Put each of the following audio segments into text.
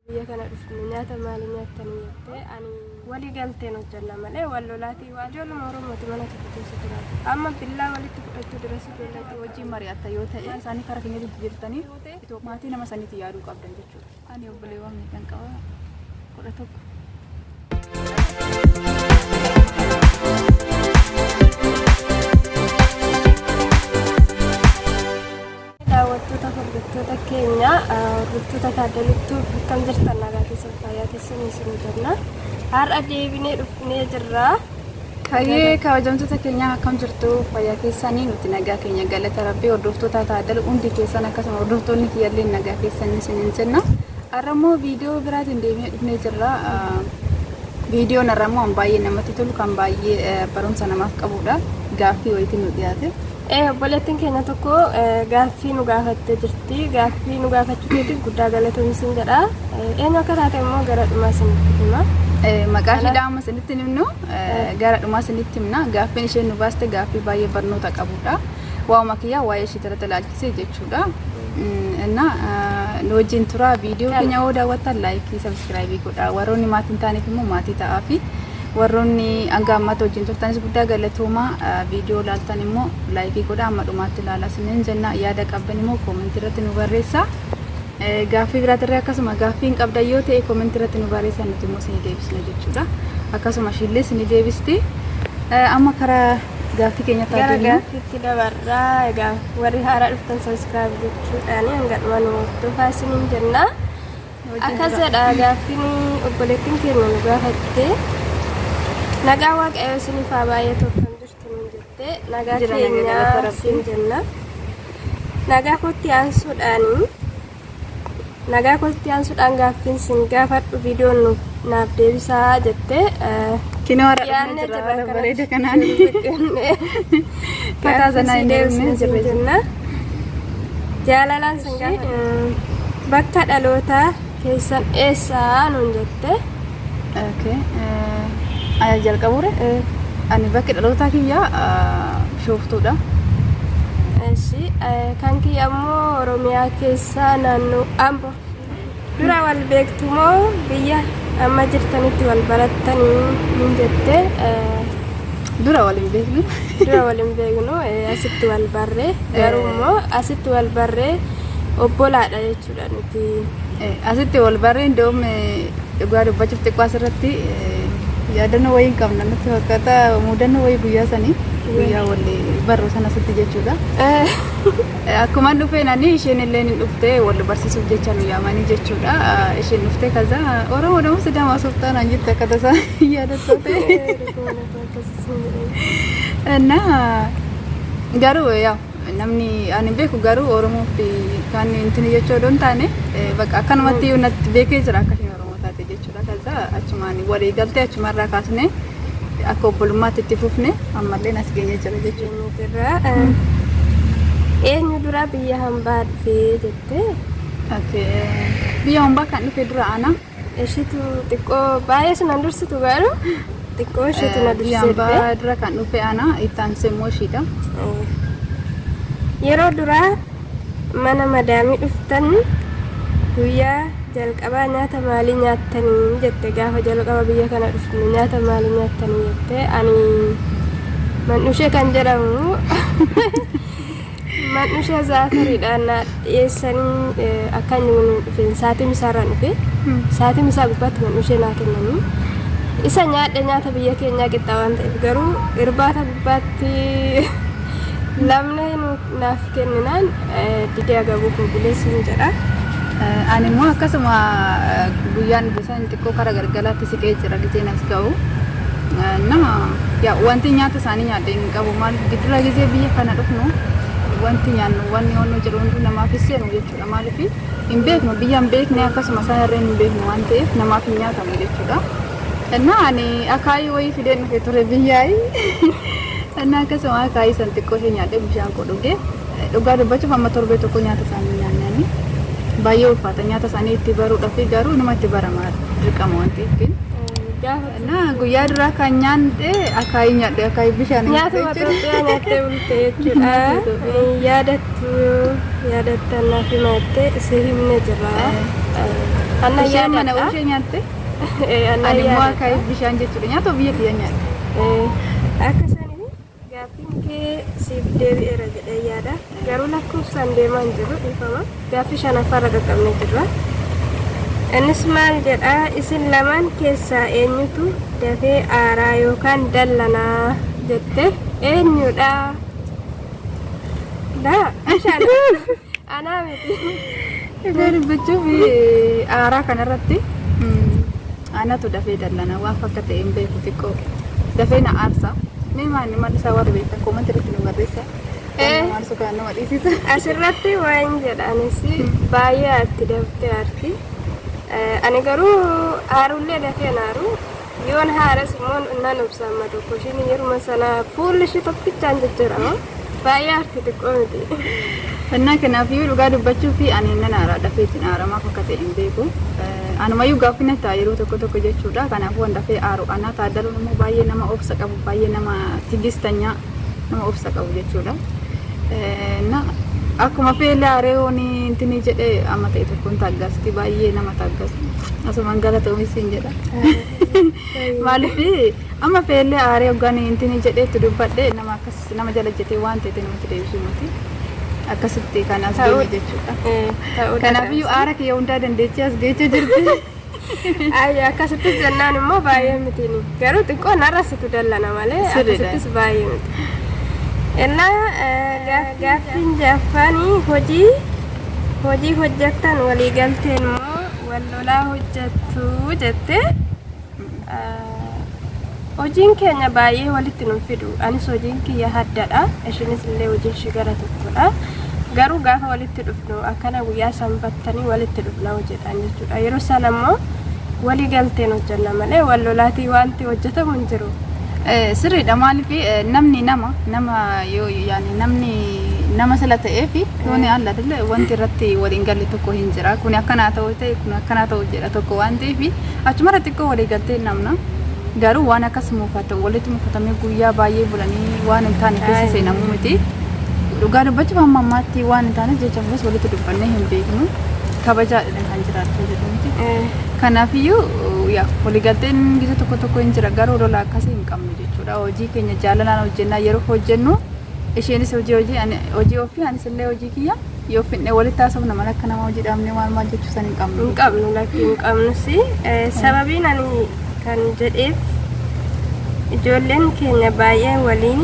biyya kana dhufne nyaata maalii nyaattan jettee ani walii galteen hojjanna malee wal lolaatii waa ijoollee oromooti mana tokko keessa jiraatu amma billaa walitti fudhachuu duras ijoollee Akka wajjin mari'atta yoo ta'e isaanii karaa keenya jijjiirtanii maatii nama saniitti yaaduu qabdan jechuudha. Ani obboleewwan meeqan qaba? Kudha tokko. daawwattoota hordoftoota keenya hordoftoota taaddalittuu akkam jirtan nagaa keessan fayyaa keessan isin jenna har'a deebinee dhufnee jirra Hayyee kabajamtoota keenya akkam jirtu fayyaa keessanii nuti nagaa keenya galata rabbii hordoftoota taaddala hundi keessan akkasuma hordoftoonni kiyyallee nagaa keessan isin hin jenna har'a immoo viidiyoo biraatiin deebinee dhufnee jirra viidiyoon har'a immoo kan baay'ee namatti tolu kan baay'ee barumsa namaaf qabudha gaaffii wayiitiin nu dhiyaate Obboleettiin keenya tokko gaaffii nu gaafattee jirti. Gaaffii nu gaafachuu keetiif guddaa galatoomi siin jedha. Eenyu akka taate immoo gara dhumaa isinitti hima. Maqaa ishee dhaama isinitti hin himnu gara dhumaa isinitti himna. Gaaffiin isheen nu baaste gaaffii baay'ee barnoota qabudha. Waa'uma kiyyaa waa'ee ishee irratti ilaalchisee jechuudha. Innaa nu wajjin turaa viidiyoo keenya yoo daawwattan laayikii sabiskiraayibii godhaa. Warroonni maatii hin taaneef immoo maatii ta'aa fi Warroonni hanga ammaatti wajjin turtanis guddaa galatoomaa. Viidiyoo ilaaltan immoo laayikii godhaa amma dhumaatti ilaalaa isiniin jenna. Yaada qabdan immoo koomentii irratti nu barreessaa. Eh, Gaaffii biraatirree akkasuma gaaffii hin qabdan yoo ta'e koomentii irratti nu barreessaa nuti immoo isinii deebisna jechuudha. Akkasuma ishiillee isinii deebisti. Eh, Amma karaa gaaffii keenyatti haa gara deemnu. gaaffiitti dabarraa egaa warri haaraa dhuftan sabiskiraayib gochuudhaan hanga dhuma nu hordofaa isiniin jenna. Akkas jedha gaaffiin obboleettiin keenya nu gaafatte. Nagaa waaqayyoo isiniif haa baay'atu akkam jirtu nuun jette. Nagaa Jira, nagaa keenya galata Rabbii. siin jenna. Nagaa kootti aansuudhaan nagaa kootti aansuudhaan gaaffiin siin gaafadhu viidiyoon nuuf naaf deebisaa jettee Kinoo har'a dhufne jira haala bareeda kanaan. Fataa zanaa hin deebisne jirre jenna. Jaalalaan sin gaafadha. Bakka dhalootaa keessan eessaa nuun jette. Okay. Ani jalqabuure. Ani bakki dhalootaa kiyya bishooftuudha. Kan kiyya ammoo Oromiyaa keessaa naannoo Ambo. Dura wal beektu moo biyya amma jirtanitti wal barattanii hin jette Dura wal hin beeknu. dura wal hin beeknu eh, asitti wal barre garuu immoo asitti wal barre obbolaadha jechuudha nuti Eh, Asitti wal barree indoom dhugaa dubbachuuf xiqqoo asirratti eh, yaadannoo wayii hin qabna natti fakkaata mudannoo wayii guyyaa sanii guyyaa wal barru sana asitti jechuudha. Eh, Akkuman dhufeen ani isheen illee ni dhufte wal barsiisuuf jecha nu yaamanii jechuudha. Isheen dhufte kaza Oromoo dama Sidaama Sultaan an jette akka tasaa yaadattoo ta'e. እና garuu yaa namni ani beeku garuu Oromoo fi kan intini jechuu odoo hin taane bakka akkanumatti natti beekee jira akka isheen Oromoo taate jechuudha. Kaasaa achumaan walii galtee achumarraa kaasnee akka obbolummaatti itti fufne ammallee as geenye jira jechuudha. Jirra. Eenyu dura biyya hambaa dhufee jettee Okay. Biyya hambaa kan dhufe dura ana ishitu xiqqoo baay'ee sun an dursitu garuu xiqqoo ishitu na biyya dursee dhufe. hambaa dura kan dhufe ana itti aansee immoo ishiidha. Yeroo duraa mana madaamii dhuftan guyyaa jalqabaa nyaata maalii nyaattanii jette gaafa jalqaba biyya kana dhufne nyaata maalii nyaattanii jette ani mandhushee kan jedhamu mandhushee zaakariidhaan na dhiyeessanii eh, akka inni nu dhufeen saatii misaarraan dhufe saatii misaa gubbaatti mandhushee naa kennanii isa nyaadhe nyaata biyya keenyaa qixxaa waan ta'eef garuu irbaata gubbaatti lamni nu naaf kenninaan didee agabuu koo bulee siin jedha. Ani immoo akkasuma guyyaan bisaan xiqqoo kara galgalaatti siqee jira gizeen as ga'u. Nama yaa wanti nyaata isaanii nyaadhe hin qabu maal giddura gizee biyya kana dhufnu wanti nyaannu wanni yoonnu jedhu hunduu namaaf hin seenu jechuudha maaliif hin beeknu biyya hin beekne akkasuma isaan irreen hin beeknu waan ta'eef namaaf hin nyaatamu jechuudha. Innaa ani akaayii wayii fideen dhufe ture biyyaayii. Innaa akkasuma akaayii san xiqqoo ishee nyaadhee bishaan koo dhuge. Dhugaa dubbachuuf amma torbee tokko nyaata isaanii nyaanne ani. Baay'ee ulfaata nyaata isaanii itti baruudhaaf garuu numa itti barama dirqama waan ta'eefin. Gaafa Innaa guyyaa duraa kan nyaadhe akaayii nyaadhe akaayii bishaan nyaatuma Itoophiyaa nyaattee bulte jechuudha. Hin yaadattu yaadattan naaf himaattee si himne jirra. Anna Isheen mana yaadadha. ishee nyaatte. Ani immoo akka bishaan jechuudha. Nyaata biyya kiyya nyaadha. Akka isaanii gaaffiin kee siif deebi'eera jedhee yaada. Garuu lakkoofsaan deemaa hin jiru dhiifama. Gaaffii shanaffaarra qaqqabnee jirra. Innis maal jedha isin lamaan keessaa eenyutu dafee aaraa yookaan dallanaa jette eenyudha? Daa, bishaan anaa miti. Dhugaa dubbachuuf aaraa kanarratti anatu dafee dallana waan fakka ta'e hin beeku xiqqoo dafee na aarsa. Mee maanni maal isaa warri beektan koomatti irratti nu barreessa. Waan maal sukaan nama dhiisisa. Asirratti waan jedhanis baay'ee atti daftee arti. Ani garuu haarullee dafee naaru Yoon haaras immoo nan obsa amma tokko ishiin yeruma sana fuulli ishii tokkichaan jijjiirama. Baay'ee arti xiqqoo miti. Fannaa kanaaf iyyuu dhugaa dubbachuu fi ani nan aaraa dafee isin aara maaf akka ta'e hin beeku. Anumayyuu gaaffii na ta'a yeroo tokko tokko jechuudha. Kanaafuu waan dafee aaru anaa taaddaluun immoo baay'ee nama obsa qabu baay'ee nama tigistanyaa nama obsa qabu jechuudha. Na akkuma feelaa areewoon intini jedhe amma ta'e tokkoon taaggaasti baay'ee nama taaggasu. Asumaan galatoomi siin jedha. Maaliif amma feellee aaree hoggaan intini jedheetti dubbadhe nama akkas nama jala jetee waan ta'e namatti deebisuu miti. Akkasitti kan as Ta'uu- deeme jechuudha. Eh, ta'uu Kanaafiyyuu aara kiyya hundaa dandeettii as geechee jirti. danda'a. Ayyi akkasitti jennaan immoo baay'ee miti ni. Garuu xiqqoo narra situ dallana malee Sirriidha. akkasittis baay'ee miti. Innaa eh, gaaf- gaaffiin jaffaanii hojii hojii hojjettan waliigalteen immoo wal Tolaa hojjattu jette. Hojiin keenya baay'ee walitti nun fidu. Anis hojiin kiyya haddadha. Ishiinis illee hojiin ishii gara tokkodha. Garuu gaafa walitti dhufnu akkana guyyaa sanbattanii walitti dhufna hojiidhaan jechuudha. Yeroo sana immoo walii galteen hojjanna malee wal lolaatii wanti hojjetamu hin jiru. Sirriidha maaliif namni nama nama yoo yaani namni nama sila ta'ee fi yoo ni alla dille wanti irratti waliin galle tokko hin jira kun akkanaa ta'u ta'e kun akkanaa ta'u jedha tokko waan ta'eef achumarra xiqqoo walii galtee namna garuu waan akkas muufata walitti muufatamee guyyaa baay'ee bulanii waan hin taane keessa seenamu miti dhugaa dubbachuuf amma ammaatti waan hin taanes jecha fuus walitti dubbannee hin beeknu kabajaa kan jiraachuu jedhu miti. Kanaafiyyuu yaa waliigalteen gisa tokko tokko hin jira garuu lola akkasii hin qabnu jechuudha. Hojii keenya jaalalaan hojjennaa yeroo hojjennu isheenis hojii hojii ani hojii ofii anis illee hojii kiyya yoo finne walitti haasofna malee akka nama hojii dhaabnee maal maal jechuu san hin qabnu. hin qabnu lakkii hin qabnus Eh, sababiin ani kan jedheef ijoolleen keenya baay'ee waliin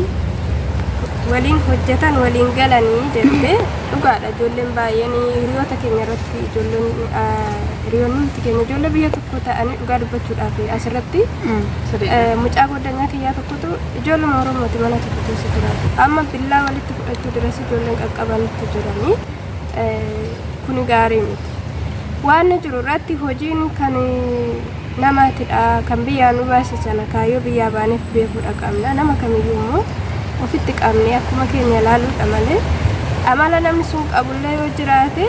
waliin hojjetan waliin galanii jette dhugaadha ijoolleen baay'een hiriyoota keenya irratti ijoolleen hiriyoonni keenya ijoollee biyya tokko ta'anii dhugaa dubbachuudhaaf asirratti mucaa goddanyaa kiyyaa tokkotu ijoollee oromooti mana tokko keessa jiraatu amma billaa walitti fudhachuu duras ijoolleen qaqqabanitti jiranii kuni gaarii miti. Waan jiru irratti hojiin kan namaatidha. Kan biyyaa nu baase sana kaayyoo biyyaa baaneef beekuudha qabna. Nama kamiyyuu immoo ofitti qabne akkuma keenya ilaaluudha malee amala namni sun qabullee yoo jiraate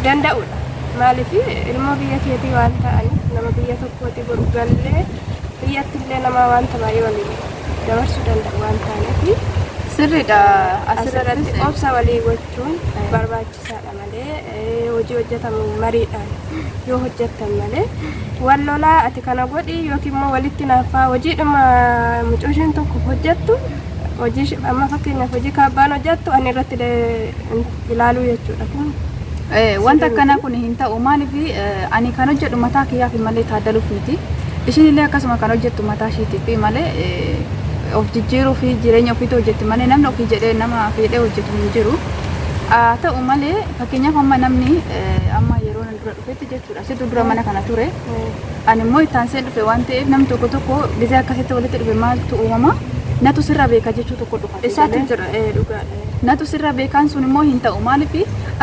danda'uudha. Maaliif ilmoo biyya keetii waan ta'aniif nama biyya tokkooti gallee biyyattillee nama wanta baay'ee waliin. dabarsuu danda'u waan taaneef. Sirriidha. Asirratti obsa walii gochuun barbaachisaadha malee hojii hojjetamu mariidhaan yoo hojjettan malee wal lolaa ati kana godhi yookiin immoo walitti naaffaa hojiidhuma mucooshiin tokko hojjettu hojii amma fakkeenyaaf hojii kaabbaan hojjettu ani irratti ilaaluu jechuudha. Kun wanta akkanaa kun hin ta'u maaliif ani kan hojjedhu mataa kiyyaaf malee taaddaluuf miti. Ishiin illee akkasuma kan hojjettu mataa ishiitiif malee of jijjiiruu fi jireenya ofiitu hojjetti malee namni ofii jedhee nama fiidhee hojjetu hin jiru. Haa ta'u malee fakkeenyaaf amma namni amma yeroo nan dura dhufetti jechuudha. Situ dura mana kana ture. Ani immoo itti aansee dhufe waan ta'eef namni tokko tokko gizee akkasitti walitti dhufe maaltu uumama natu sirra beeka jechuu tokko dhufa. Isaatu jira dhugaadha. Natu sirra beekaan sun immoo hin ta'u maaliif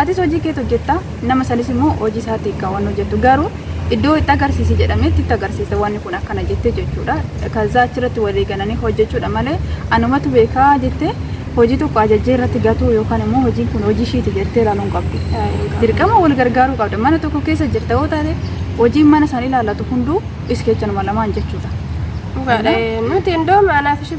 atis hojii keet hojjetta nama sanis immoo hojii isaati kan wanni hojjettu garuu iddoo itti agarsiisi jedhameetti itti agarsiisa wanni kun akkana jettee jechuudha kazaa achirratti walii galanii hojjechuudha malee anumatu beekaa jettee hojii tokko ajajjee irratti gatuu yookaan immoo hojiin kun hojii ishiiti jettee ilaaluu hin qabdu dirqama wal gargaaruu qabda mana tokko keessa jirta yoo taate hojiin mana san ilaallatu hunduu iskeechanuma lamaan jechuudha. Dhugaadha. Nuti iddoo maanaaf ishee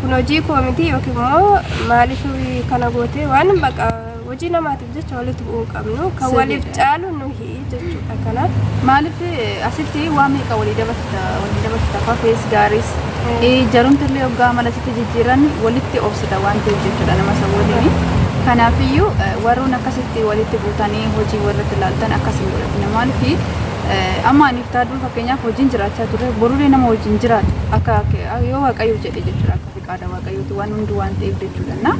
Kun hojii koo miti yookiin immoo maaliif kana gootee waan baqa hojii namaatiif jecha walitti bu'uu hin qabnu kan waliif caalu nuhi jechuudha kanaaf. Maaliif asitti waan meeqa walii dabarsita walii dabarsita fafees gaariis jarumti illee hoggaa mala sitti jijjiiran walitti obsita waan ta'eef jechuudha nama isa waliin. Kanaafiyyuu warroon akkasitti walitti buutanii hojii warratti ilaaltan akkasiin godhatina maaliif Amma aniif taaduun fakkeenyaaf hojiin jiraachaa turre boruree nama hojiin jiraatu akka yoo waaqayyo jedhe jechuudha akka fiqaada waaqayyooti waan hundi waan ta'eef jechuudha na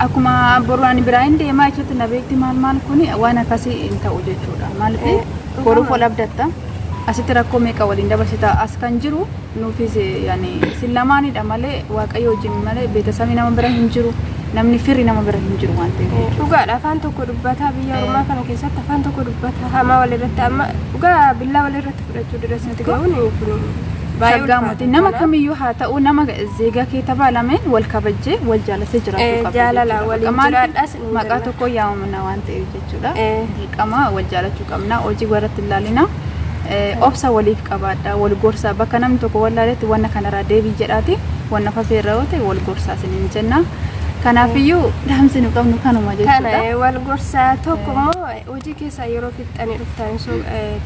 akkuma boru ani biraa hin deemaa jechuutti na beekti maal maal kun waan akkasii hin ta'u jechuudha maaliif boruuf ol abdatta asitti rakkoo meeqa waliin dabarsita as kan jiru Nuufis yani isin lamaanidha malee waaqayyo wajjin malee beetasabii nama bira hin jiru namni firri nama bira hin jiru waan ta'eef jechuudha. Dhugaadha afaan tokko dubbataa biyya Eh. ormaa kana keessatti afaan tokko dubbataa hamaa walirratti amma dhugaa billaa walirratti fudhachuu dura sitti ga'uun kun baay'ee Shaggaa ulfaata. mootii nama kamiyyuu haa ta'u nama zeegaa kee tabaalameen wal kabajjee wal jaalatee jiraachuu Eh, qabda jaalala jechuudha. waliin Bakka maaliif jiraadhaas hin maqaa jennaan. tokko yaamamna waan ta'eef jechuudha. jechuudha. Dirqama wal jaalachuu qabna. Hojii warratti ilaalina. Obsa waliif qabaadha. Wal gorsaa bakka namni tokko wal laaletti wanna kanarraa deebii jedhaati. Wanna fafee irra yoo ta'e wal gorsaa isiniin jenna. Kanaafiyyuu dhaamsi nu qabnu kanuma jechuudha. Kana wal gorsaa tokko immoo hojii keessaa yeroo fixxanii dhuftan so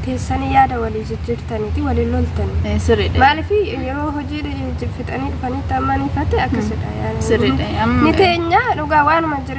teessanii yaada walii jijjiirtaniiti waliin loltanii. Eh, Sirriidha. Maaliif yeroo hojii fixanii dhufanitti amma ni fate akkasidha. Sirriidha. Amma- Ni teenya dhugaa waanuma jira.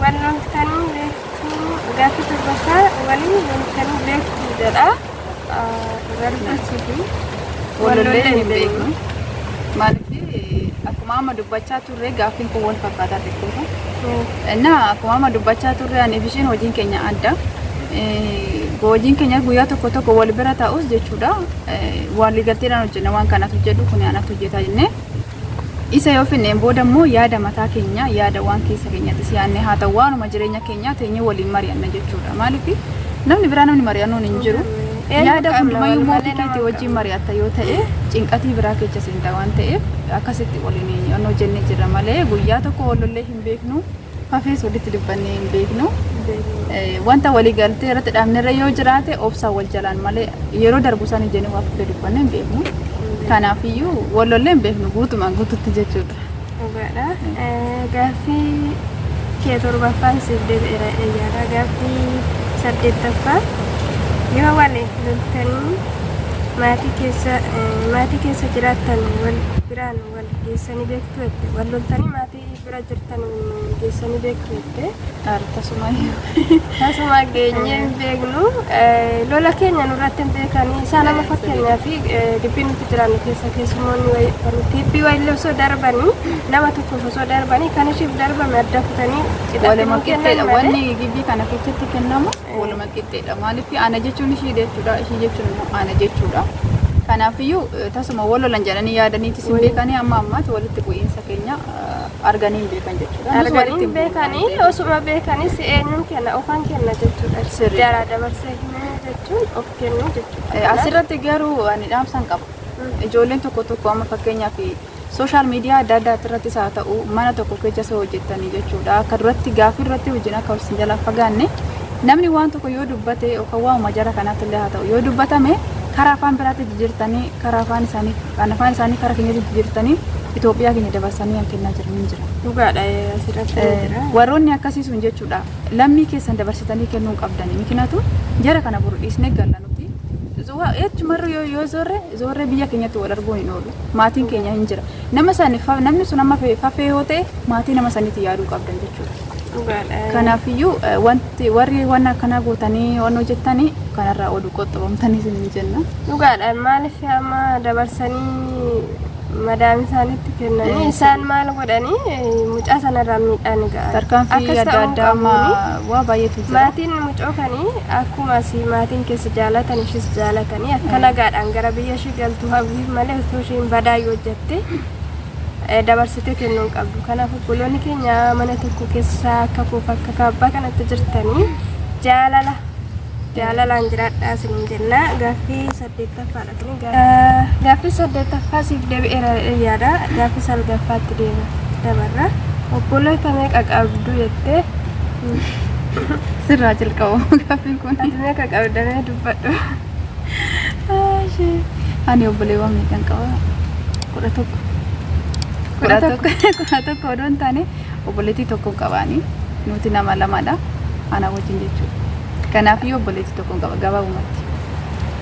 Wal loltanii beektuu gaaffii torbaffaa waliin loltanii beektuu jedha. Barbaachisuufi. Walollee hin beeknu. Maaliif akkuma amma dubbachaa turre gaaffiin kun wal fakkaataa xiqqoodha. Innaa akkuma amma dubbachaa turre ani bishiin hojiin keenya adda. Eh, Hojiin keenya guyyaa tokko tokko wal bira ta'us jechuudha. Eh, Waliigalteedhaan hojjenna waan kanatu jedhu kun anatu hojjetaa jennee. Isa yoo finneen booda immoo yaada mataa keenyaa, yaada waan keessa keenyattis yaadne haa ta'u waanuma jireenya keenyaa teenyee waliin mari'anna jechuudha. Maaliif namni biraa namni mari'annoon hin jiru. Yaada hundumayyuu immoo ofii keetii wajjin mari'atta yoo ta'e cinqatii biraa keessa seenta waan ta'eef akkasitti waliin hojjennee jirra malee guyyaa tokko wal lollee hin beeknu. Hafees walitti dubbannee hin beeknu. Wanta waliigaltee irratti dhaabnerra yoo jiraate obsaan wal jalaan malee yeroo darbu san ijanii waa fudhee dubbannee hin beeknu. Kanaafiyyuu wal lollee hin beeknu guutumaan guututti jechuudha. Dhugaadha. Gaaffii kee torbaffaan siif deebi'eera eeyyaadha. Gaaffii saddeettaffaa yoo wal loltanii maatii keessa maatii keessa jiraattan wal biraan wal geessanii beektu jette wal loltanii maatii bira jirtan geessanii beektu jettee Ar tasuma tasuma geenyee hin beeknu Eh, lola keenya nurratti hin beekanii isaa nama fakkeenyaa fi dubbii nuti jiraannu keessa keessumoonni wayi- kan tiibbii wayillee osoo darbanii nama tokkoof osoo darbanii kan ishiif darbame adda kutanii cidhatti waluma nuu kennan qixxeedha malee. wanni gibbii kana keessatti kennamu Waluma qixxeedha. Maaliif ana jechuun ishii jechuudha, ishii jechuun immoo ana jechuudha. Kanaafiyyuu eh, tasuma wal lolan jedhanii yaadaniitis hin beekanii amma ammaatti walitti bu'iinsa keenya eh, arganii hin beekan jechuudha. Nus walitti arganii hin bu'u waan beekanii ta'eef. osuma beekanis eenyuun kenna ofan kenna jechuudha Sirrii. jaraa dabarsee himuu jechuun of kennuu jechuudha Eh, Asirratti garuu ani dhaamsan qaba. Ijoolleen tokko tokko amma fakkeenyaaf Social media adda addaatti irrattis haa ta'u mana tokko keessa soo hojjettanii jechuudha. Akka duratti gaaffii irratti wajjin akka wal sin jalaa fagaanne namni waan tokko yoo dubbate yookaan waamuma jara kanaatti illee haa ta'u yoo dubbatame karaa afaan biraatti jijjiirtanii karaa afaan isaanii kan afaan isaanii karaa keenyatti jijjiirtanii Itoophiyaa keenya dabarsanii kan kennaa jiran hin jira. Dhugaadha eh, asirratti ni Eh, jira. warroonni akkasii sun jechuudha lammii keessan dabarsitanii kennuu hin qabdani mikinatu jara kana buru dhiisne galla nuti Zuwa- jechumarra yoo yoo zorre Zoorree biyya keenyatti wal arguun hin oolu. Maatiin keenya hin jira. Nama sani fa- namni sun amma fe- fafee yoo ta'e maatii nama saniitti yaaduu qabdan jechuudha. Dhugaadha. Kanaafiyyuu eh, wanti warri waan akkanaa gootanii waan hojjettanii kanarraa oduu qoxxabamtanii isin hin jenna. Dhugaadha maaliif amma dabarsanii madaami isaanitti kennanii isaan maal godhanii mucaa sanarraan miidhaan ga'a. Tarkaanfii adda addaa amma waa baay'eetu jira. Maatiin mucoo kanii akkuma asii maatiin keessa jaalatan ishis jaalatanii akka nagaadhaan gara biyya ishii galtu hawwiif malee osoo ishiin badaa yoo hojjatte dabarsitee kennuu hin qabdu. Kanaaf obboloonni keenya mana tokko keessa akka kuuf akka kaabbaa kanatti jirtanii jaalala jaalalaan jiraadhaa isin jenna gaaffii saddeet. Saddeettaffaadha kuni gaaffi. Gaaffi saddeettaffaa siif deebi'eera jedhee yaada. Gaaffi salgaffaatti deema dabarra. Obboleeta meeqa qabdu jettee sirraa jalqabu gaaffi kun. Ati meeqa qabdamee dubbadhu. Ani obboleewwan meeqan qaba? Kudha tokko. Kudha tokko. Kudha tokko odoo hin taane obboleettii tokko qabaani. Nuti nama lamadha. Ana wajjin jechuudha. Kanaaf iyyuu obboleettii tokko qaba gabaabumatti.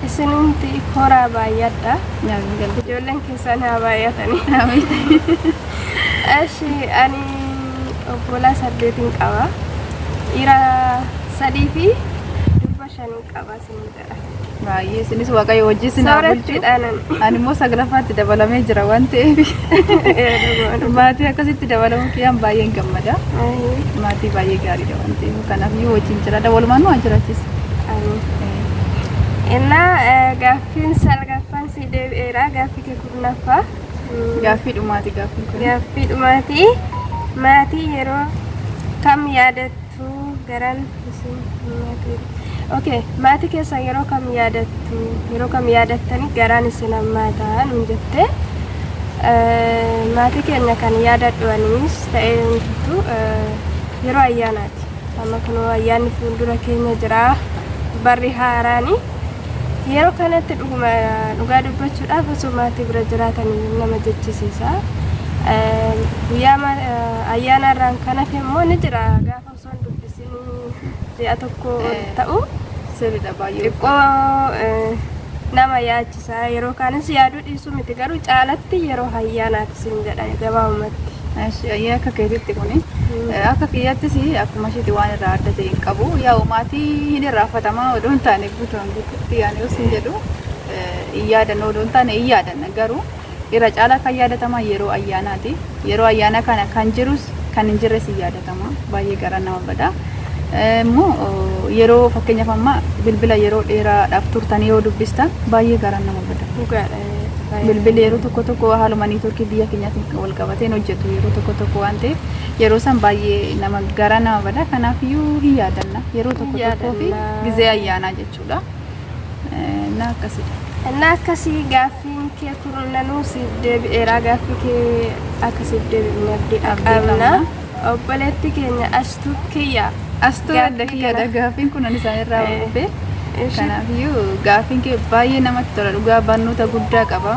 Isin hundi horaa baay'adha. Ijoolleen keessan haa baay'atanii. Ashi ani obbolaa saddeetiin qaba. Dhiira sadii fi durba shaniin qaba isin jedha. Baay'ee isinis waaqayyo wajjin sinaa bulchu. Soorattiidhaan ani. Ani immoo saglaffaatti dabalamee jira waan ta'eef maatii akkasitti dabalamuu kiyyaan baay'een gammada. Maatii baay'ee gaariidha waan ta'eef kanaaf yoo wajjin jiraadha walumaan nu haa jiraachisa. Ani. Innaa eh, gaaffiin salgaffaan si deebi'eera gaaffii kee kurnaffaa. Mm, Gaaffii dhumaati gaaffiin kun. Gaaffii dhumaatii maatii yeroo kam yaadattu garan isin maatii. Okay, maatii keessan yeroo kam yaadattu yeroo kam yaadattanii garaan isin hammaata nuun jettee eh, maatii keenya kan yaadadhu anis ta'ee hundumtuu eh, yeroo ayyaanaati. Amma kunoo ayyaanni fuuldura keenya jira. Barri haaraani. Yeroo kanatti dhuguma dhugaa dubbachuudhaaf osoo maatii bira jiraatan iyyuu nama jechisiisa. Eh, Guyyaa ma- eh, ayyaana irraan kan hafe immoo ni jira. Gaafa osoo hin dubbisin ji'a tokko ol Eh. ta'u Sirriidha baay'ee. xiqqoo eh, nama yaachi Isaa yeroo kaanis yaaduu dhiisuu miti garuu caalatti yeroo hayyaanaati siin jedha gabaabumatti. Eshi ayyee akka keetitti kuni eh, akka kiyyattis akkuma ishiiti waan irraa adda ta'e hin qabu yaa'u maatii hin irraafatamaa odoo hin taane guutumaan guututti yaani yoo sin jedhu eh, hin yaadannu odoo hin taane hin yaadanna garuu Irra caalaa kan yaadataman yeroo ayyaanaati. Yeroo ayyaanaa kana kan jirus kan hin jirres hin yaadatama. Baay'ee garaa nama bada. Immoo yeroo fakkeenyaaf amma bilbila yeroo dheeraadhaaf turtanii yoo dubbistan baay'ee garaan nama bada. Dhugaadha. baay'ee Bilbilli yeroo tokko tokko haaluma niitoorkii biyya keenyaatiin kan wal qabatee hin hojjetu yeroo tokko tokko waan ta'eef yeroo san baay'ee nama garaa nama bada. Kanaafiyyuu hin yaadanna yeroo tokko tokkoo fi Yaadanna. gizee ayyaanaa jechuudha. jechuudha. Innaa akkasidha. Innaa akkasii gaaffiin kee kurnanuu siif deebi'eeraa gaaffii kee akka siif deebi'u abdii qabna. Obboleetti keenya ashtuu kiyya. Ashtuu adda kiyyaadha gaaffiin kun isaan irraa hordofee. Kanaafiyyuu gaaffiin kee baay'ee namatti tola dhugaa barnoota guddaa qaba.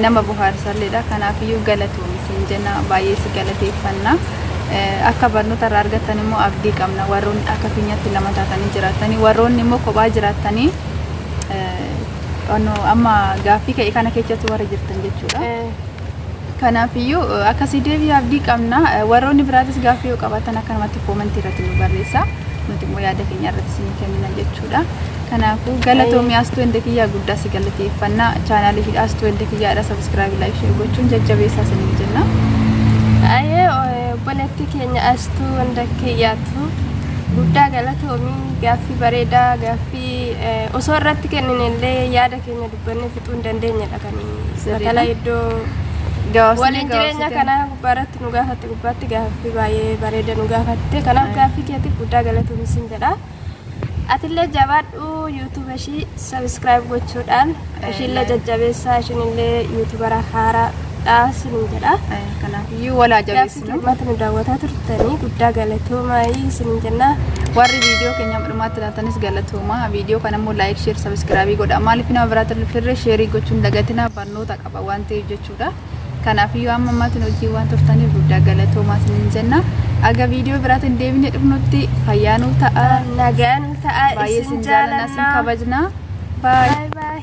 nama bohaarsalleedha kanaafiyyuu galatoomi siin jenna baay'ee si galateeffanna akka barnoota irraa argattan immoo abdii qabna warroonni akka keenyatti lama taatanii jiraattanii warroonni immoo kophaa jiraattanii amma gaaffii ka'e kana keessatti warra jirtan jechuudha. Kanaafiyyuu akkasii deebii abdii qabna warroonni biraatis gaaffii yoo qabaatan akkanumatti koomantii irratti nu barreessa nuti immoo yaada keenya irratti isin kennina jechuudha. Kanaafuu galatoomi Astuu Ende kiyyaa guddaa si galateeffanna. Chaanaalii fi Astuu Ende kiyyaadha sabiskiraabii laayik sheer gochuun jajjabeessaa isiniin jenna. Ayee obboleettii keenya astuu hunda kiyyaatu guddaa galatoomi gaaffii bareedaa gaaffii eh, osoo irratti kennine illee yaada keenya dubbannee fixuu hin dandeenyedha kan Sirriidha. batala iddoo Gabaabsinee waliin jireenya gabaabsitee. kana gubbaarratti nu gaafatte gubbaatti gaaffii baay'ee bareeda nu gaafatte kanaaf gaaffii keetiif guddaa galatoomi siin jedha. Atillee jabaadhu YouTube ishii subscribe gochuudhaan ishiillee jajjabeessaa ishiinillee YouTubera haaraadha sinin jedha. Kanaafiyyuu wal haa Gaaffii jabeessinu. dhimmaatti nu daawwataa turtanii guddaa galatoomaa isinin jenna. Warri viidiyoo keenya dhumaatti ilaatanis galatooma. Viidiyoo kana immoo laayik, sheer, sabiskiraabii godha. Maaliif nama biraatti hin dhufirree sheerii gochuun dagatina barnoota qaba waan ta'eef jechuudha. Kanaafiyyuu amma ammaatti nu wajjin waan turtaniif guddaa galatoomaa isiniin jenna. Aga viidiyoo biraatiin deebinee dhufnutti fayyaa nuuf ta'a. Nagaa nu ta'a Baay'ee isin isin jaalannaa isin jaalannaa. kabajnaa. Baay. Baay baay.